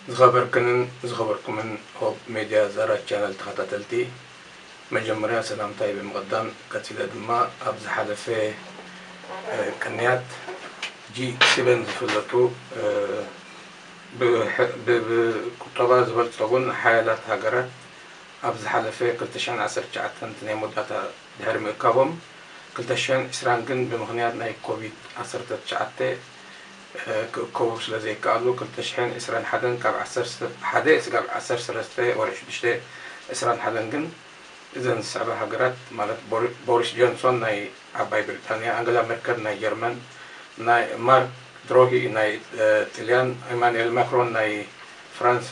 ዝኸበርክንን ዝኸበርኩምን ሆፕ ሜድያ ዛራ ቻነል ተኸታተልቲ መጀመርያ ሰላምታይ ብምቕዳም ቀጺለ ድማ ኣብ ዝሓለፈ ቅንያት ጂ ስበን ዝፍለጡ ብቁጠባ ዝበልጸጉን ሓያላት ሃገራት ኣብ ዝሓለፈ ክልተ ሽሕን ዓሰርተ ትሽዓተን እቲ ናይ መወዳእታ ድሕሪ ምእካቦም፣ ክልተ ሽሕን ዕስራን ግን ብምኽንያት ናይ ኮቪድ ዓሰርተ ትሽዓተ ክእከቡ ስለ ዘይከኣሉ፣ ክልተ ሽሕን ዕስራን ሓደን ካብ ዓሰርተ ሓደ ስጋብ ዓሰርተ ሰለስተ ወርሒ ሽዱሽተ ዕስራን ሓደን ግን እዘን ዝስዕባ ሃገራት ማለት ቦሪስ ጆንሶን ናይ ዓባይ ብሪጣንያ፣ ኣንገላ መርከል ናይ ጀርመን፣ ማርክ ድሮሂ ናይ ጥልያን፣ ኢማኑኤል ማክሮን ናይ ፍራንሳ፣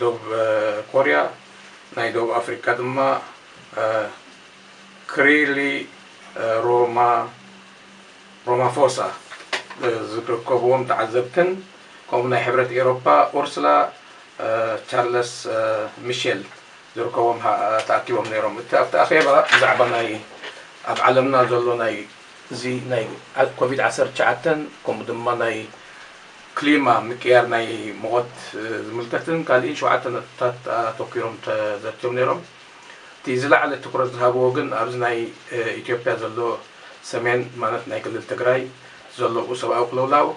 ዶብ ኮርያ ናይ ዶብ ኣፍሪቃ ድማ ክሪሊ ሮማ ሮማፎሳ ዝርከብዎም ተዓዘብትን ከምኡ ናይ ሕብረት ኤሮፓ ኡርስላ ቻርለስ ሚሼል ዝርከቦም ተኣኪቦም ነይሮም እቲ ኣብቲ ኣኼባ ብዛዕባ ናይ ኣብ ዓለምና ዘሎ ናይ እዚ ናይ ኮቪድ ዓሰርተ ትሽዓተ ከምኡ ድማ ናይ ክሊማ፣ ምቅያር ናይ ሙቐት ዝምልከትን ካልእን ሸውዓተ ነጥብታት ኣተኲሮም ተዘትዮም ነይሮም። እቲ ዝለዓለ ትኩረት ዝሃብዎ ግን ኣብዚ ናይ ኢትዮጵያ ዘሎ ሰሜን ማለት ናይ ክልል ትግራይ ዘሎኡ ሰብኣዊ ቅልውላው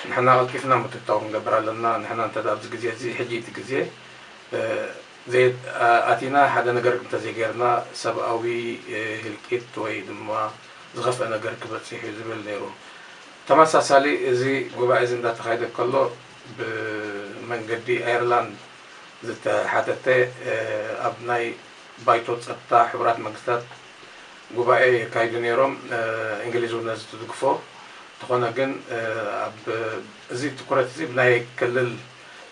ንሕና ቀልጢፍና ምትእትታው ክንገብር ኣለና፣ ንሕና እንተ ኣብዚ ግዜ እዚ ሕጂ እቲ ግዜ ዘይኣቲና ሓደ ነገር እንተዘይገይርና ሰብኣዊ ህልቂት ወይ ድማ ዝኸፍኣ ነገር ክበጽሕ እዩ ዝብል ነይሩ። ተመሳሳሊ እዚ ጉባኤ እዚ እንዳተኻየደ ከሎ ብመንገዲ ኣየርላንድ ዝተሓተተ ኣብ ናይ ባይቶ ፀጥታ ሕቡራት መንግስታት ጉባኤ የካይዱ ነይሮም እንግሊዝ እውን ነዚ ትድግፎ እንተኾነ ግን ኣብ እዚ ትኩረት እዚ ብናይ ክልል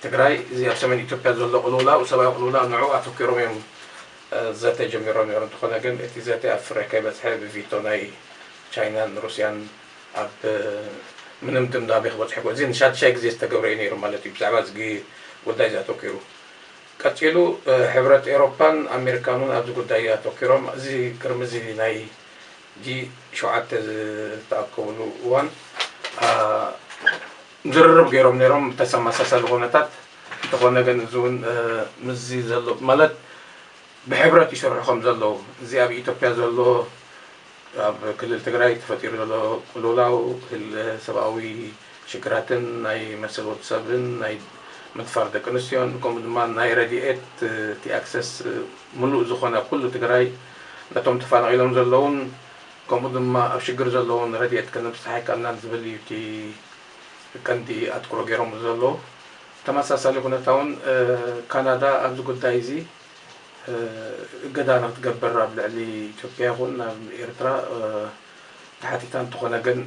ትግራይ እዚ ኣብ ሰሜን ኢትዮጵያ ዘሎ ቅልውላው ሰብኣዊ ቅልውላው ንዑ ኣተኪሮም እዮም ዘተ ጀሚሮም ነይሮም እንተኾነ ግን እቲ ዘተ ኣብ ፍረ ከይበፅሐ ብቪቶ ናይ ቻይናን ሩስያን ኣብ ምንም ድምዳሜ ክበጽሑ ኣይክእሉን። እዚ ንሻድሻይ ግዜ ዝተገብረ እዩ ነይሩ ማለት እዩ ብዛዕባ እዚ ጉዳይ እዚ ኣተኲሩ። ቀጺሉ ሕብረት ኤውሮፓን ኣሜሪካን እውን ኣብዚ ጉዳይ ኣተኲሮም እዚ ቅድሚ እዚ ናይ ጂ ሸውዓተ ዝተኣከቡሉ እዋን ዝርርብ ገይሮም ነይሮም ብተሰማሳሳሊ ኩነታት። እንተኾነ ግን እዚ እውን ምስዚ ዘሎ ማለት ብሕብረት ይሰርሑ ከም ዘለዉ እዚ ኣብ ኢትዮጵያ ዘሎ ኣብ ክልል ትግራይ ተፈጢሩ ዘሎ ቅልውላው ህለ ሰብኣዊ ሽግራትን ናይ መሰል ወድ ሰብን ናይ ምድፋር ደቂ ኣንስትዮን ከምኡ ድማ ናይ ረድኤት እቲ ኣክሰስ ምሉእ ዝኾነ ኣብ ኩሉ ትግራይ ነቶም ተፋናቒሎም ዘለዉን ከምኡ ድማ ኣብ ሽግር ዘለዉን ረድኤት ከነብፅሕ ኣይካልናን ዝብል እዩ እቲ ቀንዲ ኣትኩሮ ገይሮምሉ ዘለዉ ተመሳሳሊ ኩነታውን ካናዳ ኣብዚ ጉዳይ እዚ እገዳ ንክትገበር ኣብ ልዕሊ ኢትዮጵያ ይኹን ኣብ ኤርትራ ተሓቲታ እንተኾነ ግን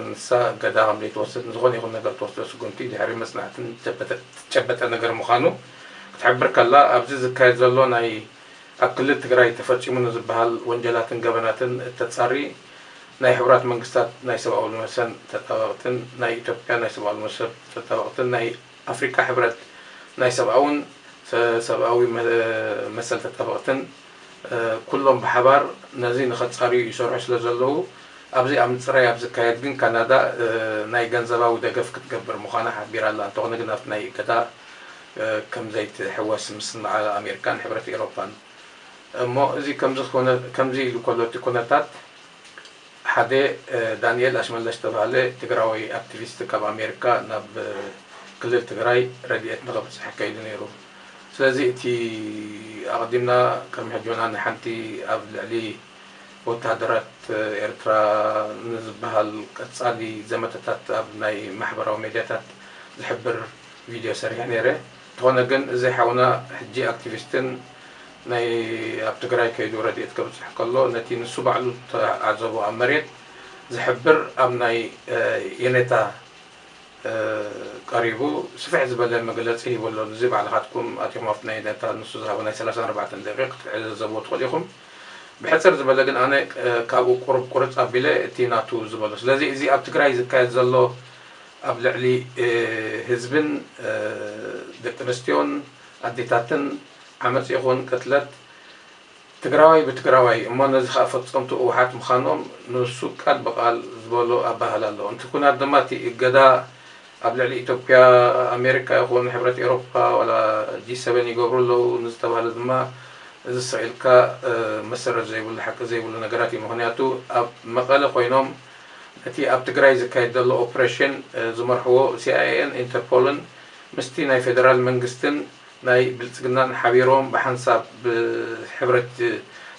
ንሳ እገዳ ከምዘይትወስድ ንዝኾነ ይኹን ነገር ትወስዶ ስጉምቲ ድሕሪ መጽናዕትን ትጨበጠ ነገር ምዃኑ ክትሕብር ከላ ኣብዚ ዝካየድ ዘሎ ናይ ኣብ ክልል ትግራይ ተፈጺሙ ንዝበሃል ወንጀላትን ገበናትን እተጻሪ ናይ ሕቡራት መንግስታት ናይ ሰብኣዊ መሰን ተጣበቕትን ናይ ኢትዮጵያ ናይ ሰብኣዊ መሰብ ተጣበቕትን ናይ ኣፍሪቃ ሕብረት ናይ ሰብኣውን ሰብኣዊ መሰል ተጣበቕትን ኩሎም ብሓባር ነዚ ንኸጻርዩ ይሰርሑ ስለ ዘለዉ ኣብዚ ኣብ ምጽራይ ኣብ ዝካየድ ግን ካናዳ ናይ ገንዘባዊ ደገፍ ክትገብር ምዃና ሓቢራ ኣላ እንተኾነ ግን ኣብቲ ናይ እገዳ ከም ዘይትሕወስ ምስምማዕ ኣሜሪካን ሕብረት ኤሮፓን እሞ እዚ ከምዚ ከምዚ ኢሉ ከሎ እቲ ኩነታት ሓደ ዳኒኤል ኣሽመለሽ ዝተባህለ ትግራዎይ ኣክቲቪስት ካብ ኣሜሪካ ናብ ክልል ትግራይ ረዲኤት ንኸብፅሕ ከይዱ ነይሩ። ስለዚ እቲ ኣቕዲምና ቅድሚ ሕጆና ንሓንቲ ኣብ ልዕሊ ወተሃደራት ኤርትራ ንዝበሃል ቀፃሊ ዘመተታት ኣብ ናይ ማሕበራዊ ሜድያታት ዝሕብር ቪድዮ ሰሪሐ ነይረ። እንተኾነ ግን እዚ ሓውና ሕጂ ኣክቲቪስትን ናይ ኣብ ትግራይ ከይዱ ረድኤት ከብጽሕ ከሎ ነቲ ንሱ ባዕሉ ዝተዓዘቦ ኣብ መሬት ዝሕብር ኣብ ናይ የኔታ ቀሪቡ ስፍሕ ዝበለ መግለጺ ሂቡ ኣሎ ንዚ ባዕልኻትኩም ኣቲኹም ኣብቲ ናይ የኔታ ንሱ ዝሃቦ ናይ ሰላሳን ኣርባዕተን ደቂቅ ክትዕዘዘብዎ ትኽእሉ ኢኹም ብሕጽር ዝበለ ግን ኣነ ካብኡ ቁሩብ ቁርጽ ኣቢለ እቲ ናቱ ዝበሎ ስለዚ እዚ ኣብ ትግራይ ዝካየድ ዘሎ ኣብ ልዕሊ ህዝብን ደቂ ኣንስትዮን ኣዴታትን ዓመፅ ይኹን ቅትለት ትግራዋይ ብትግራዋይ እሞ ነዚ ከዓ ፈፀምቱ ህወሓት ምኻኖም ንሱ ቃል ብቃል ዝበሎ ኣባህላ ኣሎ እንቲ ኩናት ድማ እቲ እገዳ ኣብ ልዕሊ ኢትዮጵያ ኣሜሪካ ይኹን ሕብረት ኤሮፓ ዋላ ጂ ሰቨን ይገብሩ ኣለው ንዝተባህለ ድማ እዚ ስቅ ኢልካ መሰረት ዘይብሉ ሓቂ ዘይብሉ ነገራት እዩ ምኽንያቱ ኣብ መቀለ ኮይኖም እቲ ኣብ ትግራይ ዝካየድ ዘሎ ኦፕሬሽን ዝመርሕዎ ሲኣይኤን ኢንተርፖልን ምስቲ ናይ ፌደራል መንግስትን ናይ ብልፅግናን ሓቢሮም ብሓንሳብ ብሕብረት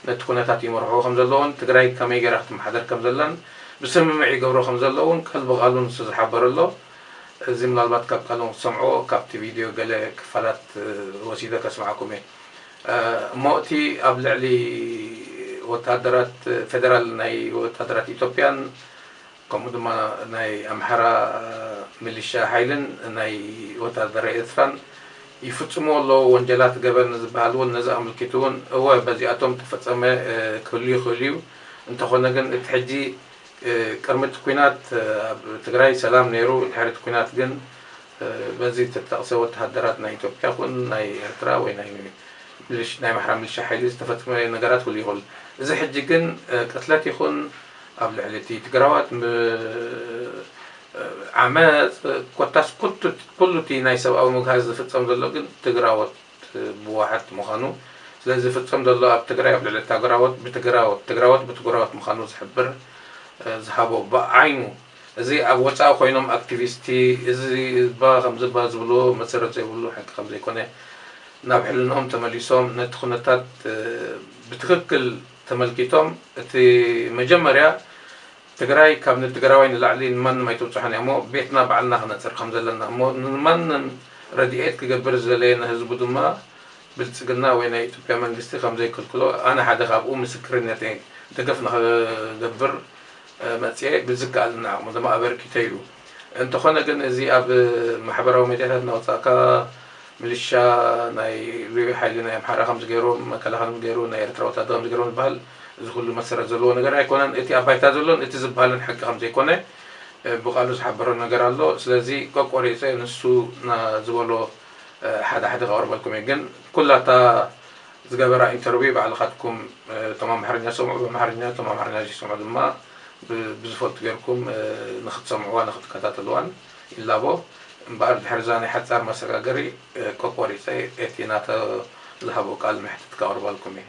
ነቲ ኩነታት ይመርሕዎ ከምዘለዎን ትግራይ ከመይ ገይራ ክትመሓደር ከምዘላን ብስምምዕ ይገብሮ ከምዘሎ እውን ቃል ብቓሉ ንሱ ዝሓበረ ኣሎ። እዚ ምናልባት ካብ ቃሎም ክትሰምዕዎ ካብቲ ቪድዮ ገለ ክፋላት ወሲደ ከስምዓኩም እየ። እሞ እቲ ኣብ ልዕሊ ወተሃደራት ፌደራል ናይ ወተሃደራት ኢትዮጵያን ከምኡ ድማ ናይ ኣምሓራ ሚሊሻ ሓይልን ናይ ወተሃደረ ኤርትራን ይፍጽምዎ ኣለዉ ወንጀላት ገበን ዝበሃል እውን ነዚ ኣምልኪቱ እውን እወ በዚኣቶም እተፈጸመ ክህሉ ይኽእል እዩ እንተኾነ ግን እቲ ሕጂ ቅድሚ እቲ ኲናት ኣብ ትግራይ ሰላም ነይሩ ድሕሪ እቲ ኲናት ግን በዚ እተጠቕሰ ወተሃደራት ናይ ኢትዮጵያ ኩን ናይ ኤርትራ ወይ ናይ ምልሽ ናይ ኣምሓራ ምልሻ ሓይሊ ዝተፈጸመ ነገራት ክህሉ ይኽእል። እዚ ሕጂ ግን ቅትለት ይኹን ኣብ ልዕሊ እቲ ትግራዋት ም ዓመጽ ኮታስ ኩቱ ኩሉ እቲ ናይ ሰብኣዊ ምግሃስ ዝፍጸም ዘሎ ግን ትግራዎት ብዋሓት ምዃኑ ስለዚ ዝፍጸም ዘሎ ኣብ ትግራይ ኣብ ልዕሊ ታግራዎት ብትግራዎት ትግራዎት ብትግራዎት ምዃኑ ዝሕብር ዝሃቦ ብዓይኑ እዚ ኣብ ወጻኢ ኮይኖም ኣክቲቪስቲ እዚ እባ ከምዚ እባ ዝብልዎ መሰረት ዘይብሉ ሕንኪ ከምዘይኮነ ናብ ሕልንኦም ተመሊሶም ነቲ ኩነታት ብትክክል ተመልኪቶም እቲ መጀመርያ ትግራይ ካብ ንትግራዋይ ንላዕሊ ንማንም ኣይትብጽሖን እያሞ ቤትና ባዕልና ክነጽሪ ከምዘለና እሞ ንማንም ረዲኤት ክገብር ዝደለየ ንህዝቡ ድማ ብልጽግና ወይ ናይ ኢትዮጵያ መንግስቲ ከምዘይክልክሎ ኣነ ሓደ ካብኡ ምስክርነተይ ደገፍ ንክገብር መጺኤ ብዝከኣለኒ ዓቕሚ ድማ ኣበርኪተ ኢሉ። እንተኾነ ግን እዚ ኣብ ማሕበራዊ ሚድያታት እናወጻእካ ምልሻ ናይ ልዩ ሓይሊ ናይ ኣምሓራ ከምዚ ገይሮም፣ መከላኸሊ ከምዚ ገይሩ፣ ናይ ኤርትራ ወታደር ከምዚ ገይሮም ዝበሃል እዚ ኩሉ መሰረት ዘለዎ ነገር ኣይኮነን። እቲ ኣብ ባይታ ዘሎን እቲ ዝበሃልን ሓቂ ከምዘይኮነ ብቃሉ ዝሓበሮ ነገር ኣሎ። ስለዚ ቆቆሪጸ ንሱ ዝበሎ ሓደ ሓደ ከቕርበልኩም እየ። ግን ኩላ እታ ዝገበራ ኢንተርቪው ባዕልካትኩም እቶም ኣምሓርኛ ዝሰምዑ ብኣምሓርኛ እቶም ኣምሓርኛ ዘይሰምዑ ድማ ብዝፈልጡ ጌርኩም ንክትሰምዕዋን ንክትከታተልዋን ይላቦ። እምበኣር ድሕሪዛ ናይ ሓጻር መሰጋገሪ ቆቆሪጸ እቲ ናተ ዝሃቦ ቃል መሕትት ከቅርበልኩም እየ።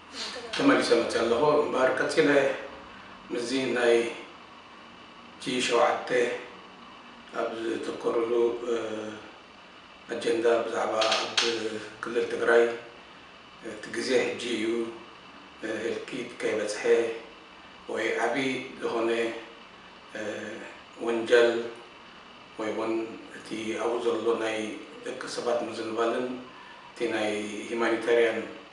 ተመሊሰ መጺኣ ኣለኹ እምበኣር ቀጺለ ምስዚ ናይ ጂ ሸውዓተ ኣብ ዘተኮርሉ ኣጀንዳ ብዛዕባ ኣብ ክልል ትግራይ እቲ ግዜ ሕጂ እዩ ህልቂት ከይበጽሐ ወይ ዓቢ ዝኾነ ወንጀል ወይ ውን እቲ ኣብኡ ዘሎ ናይ ደቂ ሰባት ምዝንባልን እቲ ናይ ሂማኒታርያን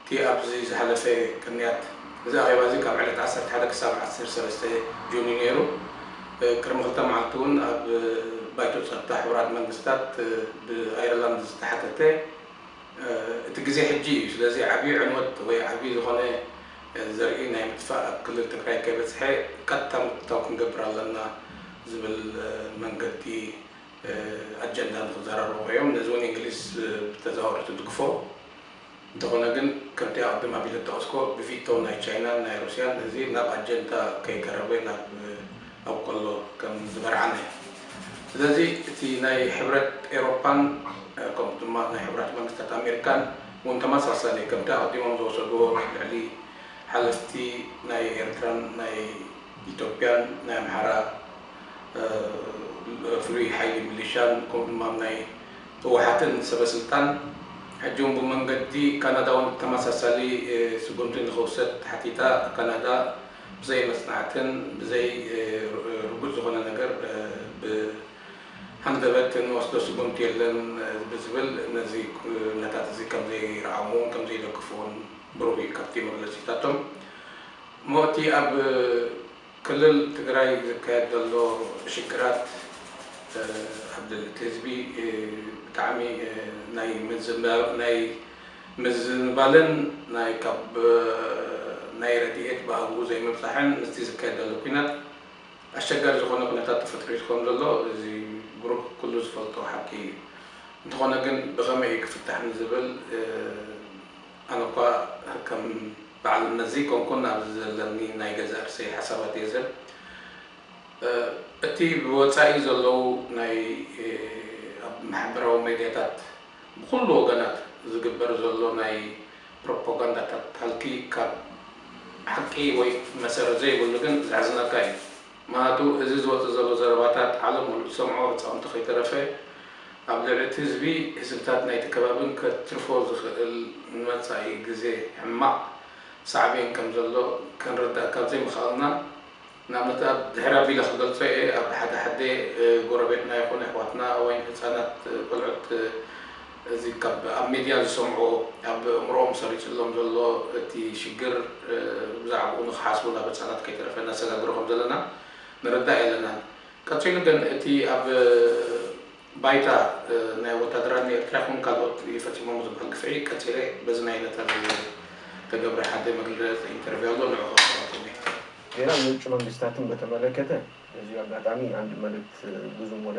እቲ ኣብዚ ዝሓለፈ ቅንያት እዚ ኣኼባ እዚ ካብ ዕለት ዓሰርተ ሓደ ክሳብ ዓሰርተ ሰለስተ ጁን እዩ ነይሩ። ቅድሚ ክልተ መዓልቲ እውን ኣብ ባይቶ ጸጥታ ሕቡራት መንግስታት ብኣየርላንድ ዝተሓተተ እቲ ግዜ ሕጂ እዩ ስለዚ ዓብዩ ዕንወት ወይ ዓብዩ ዝኾነ ዘርኢ ናይ ምጥፋእ ኣብ ክልል ትግራይ ከይበጽሐ ቀጥታ ምቁታው ክንገብር ኣለና ዝብል መንገዲ ኣጀንዳ ንክዘራረቡ እዮም። ነዚ እውን እንግሊዝ ብተዘዋዋሪ ትድግፎ። እንተኾነ ግን ከምቲ ኣቕድም ኣቢለ ዝጠቐስኩዎ ብቪቶ ናይ ቻይናን ናይ ሩስያን እዚ ናብ ኣጀንታ ከይቀረበ ናብ ኣብ ቆሎ ከም ዝበርዓነ ስለዚ እቲ ናይ ሕብረት ኤሮፓን ከምኡ ድማ ናይ ሕቡራት መንግስታት ኣሜሪካን ውን ተመሳሳሊ ከምቲ ኣቕዲሞም ዝወሰድዎ ልዕሊ ሓለፍቲ ናይ ኤርትራን ናይ ኢትዮጵያን ናይ ኣምሓራ ፍሉይ ሓይሊ ሚሊሻን ከምኡ ድማ ናይ ህወሓትን ሰበስልጣን ሕጂውን ብመንገዲ ካናዳውን ተመሳሳሊ ስጉምቲ ንኽውሰድ ሓቲታ፣ ካናዳ ብዘይ መፅናዕትን ብዘይ ርጉፅ ዝኾነ ነገር ብሃንደበት እንወስዶ ስጉምቲ የለን ብዝብል ነዚ ኩነታት እዚ ከምዘይረኣሙዎን ከምዘይደግፉዎን ብሩህ እዩ ካብቲ መግለፂታቶም እሞ እቲ ኣብ ክልል ትግራይ ዝካየድ ዘሎ ሽግራት ኣብ ልዕሊ እቲ ህዝቢ ብጣዕሚ ናይ ናይ ምዝንባልን ናይ ካብ ናይ ረዲኤት ብኣግኡ ዘይምብፃሕን ምስቲ ዝካየድ ዘሎ ኩናት ኣሸጋሪ ዝኾነ ኩነታት ተፈጥሪቱ ከም ዘሎ እዚ ብሩህ ኩሉ ዝፈልጦ ሓቂ እዩ። እንተኾነ ግን ብኸመይ እዩ ክፍታሕ ንዝብል ኣነ እኳ ከም በዓል መዚ ኮንኩን ኣብዚ ዘለኒ ናይ ገዛእ ርእሰይ ሓሳባት እየ ዝህብ። እቲ ብወጻኢ ዘለዉ ናይ ኣብ ማሕበራዊ ሜድያታት ብኹሉ ወገናት ዝግበር ዘሎ ናይ ፕሮፖጋንዳታት ሃልኪ ካብ ሓቂ ወይ መሰረት ዘይብሉ ግን ዘሕዝነካ እዩ። ምክንያቱ እዚ ዝወጽእ ዘሎ ዘረባታት ዓለም ሙሉእ ትሰምዖ ህጻውንቲ ከይተረፈ ኣብ ልዕሊ እቲ ህዝቢ ህዝብታት ናይቲ ከባብን ከትርፎ ዝክእል ንመጻኢ ግዜ ሕማቅ ሳዕቤን ከም ዘሎ ክንርዳእ ካብ ዘይምክኣልና ንኣብነት ኣብ ድሕሪ ኣቢለ ክገልጾ እየ ኣብ ሓደ ሓደ ጎረቤትና ይኩን የሕዋትና ወይም ህጻናት ቆልዑት እዚ ካብ ኣብ ሚድያ ዝሰምዕዎ ኣብ ኣእምርኦም ሰሪጽሎም ዘሎ እቲ ሽግር ብዛዕብኡ ንኽሓስቡ ናብ ህጻናት ከይተረፈ ነሰጋግሮ ከም ዘለና ንርዳእ የለናን። ቀጺሉ ግን እቲ ኣብ ባይታ ናይ ወታደራት ንኤርትራ ይኹን ካልኦት ፈጺሞም ዝብሃል ግፍዒ ቀጺለ በዚ ናይ ዕለታ ዝተገብረ ሓደ መግለጺ ኢንተርቪው ኣሎ ንዑ ከቕርበልኩም እየ። ዜና ምንጪ መንግስታትን በተመለከተ በዚሁ ኣጋጣሚ ኣንድ መልእክት ብዙም ወደ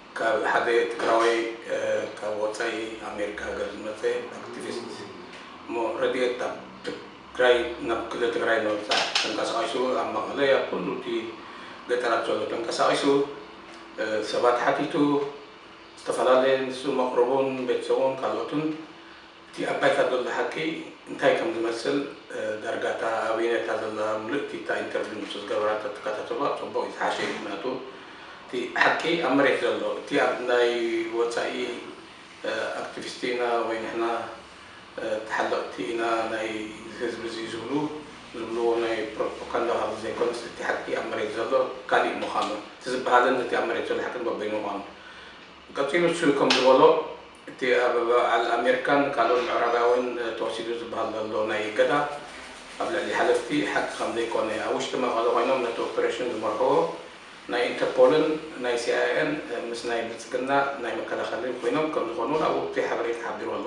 ካብ ሓደ ትግራዋይ ካብ ወፃኢ ኣሜሪካ ሃገር ዝመፀ ኣክቲቪስት እሞ ረድኤት ናብ ትግራይ ናብ ክልል ትግራይ ንምብፃሕ ተንቀሳቂሱ ኣብ መቐለ ኣብ ኩሉ እቲ ገጠራት ዘሎ ተንቀሳቂሱ ሰባት ሓቲቱ ዝተፈላለየ ንሱ መቅርቡን ቤተሰቡን ካልኦትን እቲ ኣብ ባይታ ዘሎ ሓቂ እንታይ ከም ዝመስል ዳርጋ እታ ኣበይነታ ዘላ ምልእቲ እታ ኢንተርቪው ንሱ ዝገበራ እንተ ትከታተልዋ ጽቡቅ እዩ ዝሓሸ እዩ ምክንያቱ እቲ ሓቂ ኣብ መሬት ዘሎ እቲ ኣብ ናይ ወጻኢ ኣክትቪስቲ ኢና ወይ ንሕና ተሓለቅቲ ኢና ናይ ህዝቢ እዚ ዝብሉ ዝብልዎ ናይ ፕሮፖካንዳ ካብዚ ዘይኮነስ እቲ ሓቂ ኣብ መሬት ዘሎ ካሊእ ምካኑ እቲ ዝብሃልን እቲ ኣብ መሬት ዘሎ ሓቂን በበይኑ ምካኑ ቀጺሉ ንሱ ከም ዝበሎ፣ እቲ ኣብ በዓል ኣሜሪካን ካልኦት ምዕራባውያን ተወሲዱ ዝበሃል ዘሎ ናይ እገዳ፣ ኣብ ልዕሊ ሓለፍቲ ሓቂ ከም ዘይኮነ፣ ኣብ ውሽጢ መቐለ ኮይኖም ነቲ ኦፕሬሽን ዝመርሕዎ ናይ ኢንተርፖልን ናይ ሲኣይኤን ምስ ናይ ብልጽግና ናይ መከላኸሊ ኮይኖም ከም ዝኾኑ እውን ኣብ ወቅቲ ሓበሬታ ተሓቢሩ ኣሎ።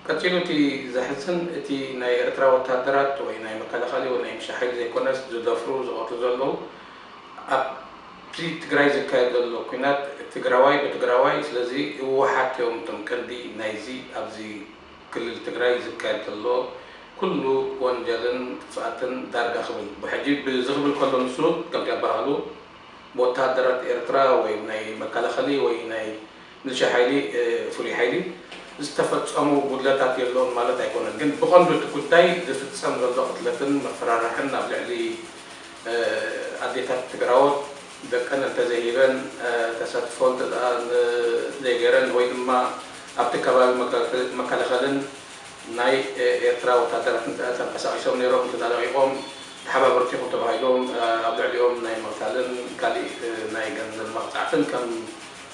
ቀጺሉ እቲ ዘሕዝን፣ እቲ ናይ ኤርትራ ወተሃደራት ወይ ናይ መከላኸሊ ወይ ናይ ምሻ ሓይሊ ዘይኮነስ ዝደፍሩ ዝቐትሉ ዘለዉ ኣብ። እቲ ትግራይ ዝካየድ ዘሎ ኩናት ትግራዋይ ብትግራዋይ ስለዚ ህወሓት እዮም እቶም ቀንዲ ናይዚ ኣብዚ ክልል ትግራይ ዝካየድ ዘሎ ኩሉ ወንጀልን ጥፍኣትን ዳርጋ ክብል ብሕጂ እዚ ክብል ከሎ ንሱ ከምቲ ኣባሃሉ ብወተሃደራት ኤርትራ ወይ ናይ መካላኸሊ ወይ ናይ ንቺ ሓይሊ ፍሉይ ሓይሊ ዝተፈፀሙ ጉድለታት የለኡን ማለት ኣይኮነን ግን ብቐንዱ እቲ ጉዳይ ዝፍፀም ዘሎ ቅትለትን ምፍራራሕን ኣብ ልዕሊ ኣዴታት ትግራዎት ደቀን እንተዘይሂበን ተሳትፎ እንተዘይገይረን ወይ ድማ ኣብቲ ከባቢ መከላኸልን ናይ ኤርትራ ወታደራት እንተተንቀሳቒሶም ነይሮም እንተተለቒቖም ተሓባበርቲ ኢኹም ተባሂሎም ኣብ ልዕሊኦም ናይ ምቕታልን ካሊእ ናይ ገንዘብ መቕፃዕትን ከም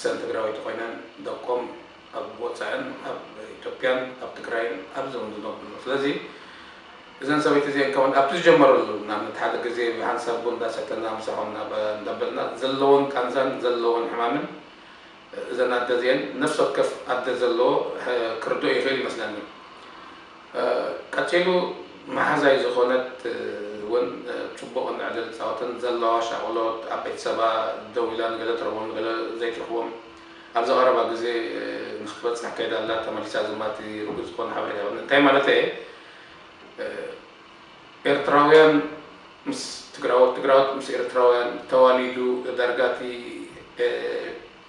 ሰን ትግራወይቲ ኮይነን ደቆም ኣብ ወፃእን ኣብ ኢትዮጵያን ኣብ ትግራይን ኣብ ዞም ዝነብርሉ ስለዚ እዘን ሰበይቲ እዚኤን ከማን ኣብቲ ዝጀመረሉ ንኣብነት ሓደ ግዜ ብሃንሳብ ቡን እንዳሰተና ምሳሆም እንዳበልና ዘለወን ቃንዛን ዘለወን ሕማምን እዘን ኣደ እዚኤን ነፍሲ ወከፍ ኣደ ዘለዎ ክርድኦ ይክእል ይመስለኒ ቀጺሉ መሓዛይ ዝኾነት ውን ጽቡቕ እንዕዘ ንጻወትን ዘለዋ ሻቕሎት ኣብ ቤተሰባ ደው ኢላ ንገለ ትረኽቦም ንገለ ዘይትረኽቦም ኣብዚ ቀረባ ግዜ ንኽትበጽሕ ከይዳ ኣላ ተመሊሳ ዝማቲ ርጉጽ ዝኾነ ሓበሬታ የብለይ እንታይ ማለተይ እየ ኤርትራውያን ምስ ትግራዎት ትግራዎት ምስ ኤርትራውያን ተዋሊዱ ዳርጋ እቲ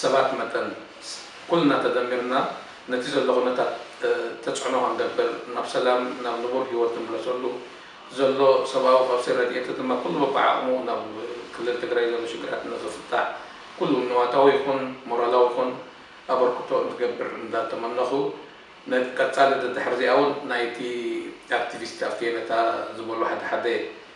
ሰባት መጠን፣ ኩልና ተደሚርና ነቲ ዘሎ ኩነታት ተጽዕኖ ክንገብር፣ ናብ ሰላም፣ ናብ ንቡር ህይወት ንምለሰሉ፣ ዘሎ ሰብኣዊ ቀውሲ ረድኤት ድማ ኩሉ በብዓቕሙ ናብ ክልል ትግራይ ዘሎ ሽግራት ንኽፍታሕ ኩሉ ንዋታዊ ይኹን ሞራላዊ ይኹን ኣበርክቶ እንትገብር እንዳተመነኹ፣ ነቲ ቀጻሊ ደድሕርዚኣ ውን ናይቲ ኣክቲቪስት ኣፌነታ ዝበሎ ሓደ ሓደ